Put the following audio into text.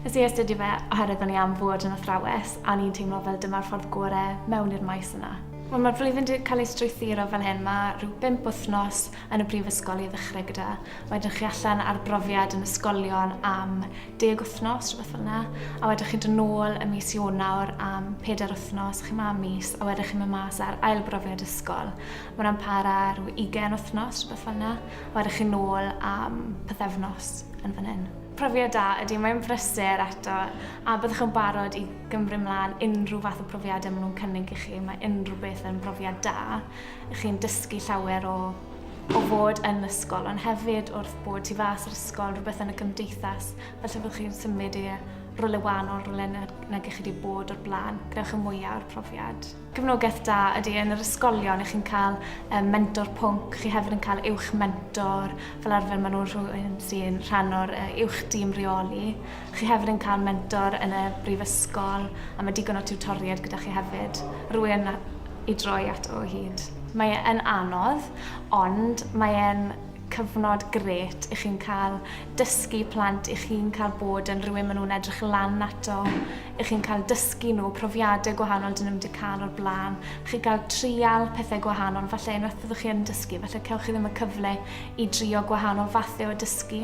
Nes i astudio fe oherwydd o'n i am fod yn athrawes a ni'n teimlo fel dyma'r ffordd gore mewn i'r maes yna. Wel, mae'r flwyddyn wedi cael ei strwythuro fel hyn. Mae rhyw bimp wythnos yn y brifysgol i ddechrau gyda. Wedyn chi allan ar brofiad yn ysgolion am deg wythnos, rhywbeth fel yna, a wedyn chi'n dod nôl ym mis Ionawr am pedair wythnos, chi'n ma' mis, a wedyn chi'n mynd mas ar ail brofiad ysgol. Mae hwnna'n para rhyw ugain wythnos, rhywbeth fel yna, a wedyn chi'n nôl am pythefnos yn fan hyn profiad da ydy, mae'n brysur eto, a byddwch yn barod i gymru mlaen unrhyw fath o profiadau maen nhw'n cynnig i chi. Mae unrhyw beth yn brofiad da. Chi'n dysgu llawer o o fod yn ysgol, ond hefyd wrth bod tu fas yr ysgol, rhywbeth yn y gymdeithas, felly fyddwch chi'n symud i rolau wahanol, rolau nag na chi wedi bod o'r blaen, gwnewch y mwyaf o'r profiad. Cefnogaeth da ydy yn yr ysgolion, ych chi'n cael um, mentor pwnc, chi hefyd yn cael uwch mentor, fel arfer maen nhw'n rhywun sy'n rhan o'r uh, uwch dîm reoli, Chi hefyd yn cael mentor yn y brifysgol a mae digon o tiwtoriaid gyda chi hefyd. Rwy'n i droi ato o hyd. Mae e yn anodd, ond mae e'n cyfnod grêt i chi'n cael dysgu plant, i chi'n cael bod yn rhywun maen nhw'n edrych lan ato, i chi'n cael dysgu nhw profiadau gwahanol dyn nhw'm wedi cael o'r blaen, chi gael trial pethau gwahanol, falle unwaith byddwch chi yn dysgu, falle cewch chi ddim y cyfle i drio gwahanol fathau o dysgu.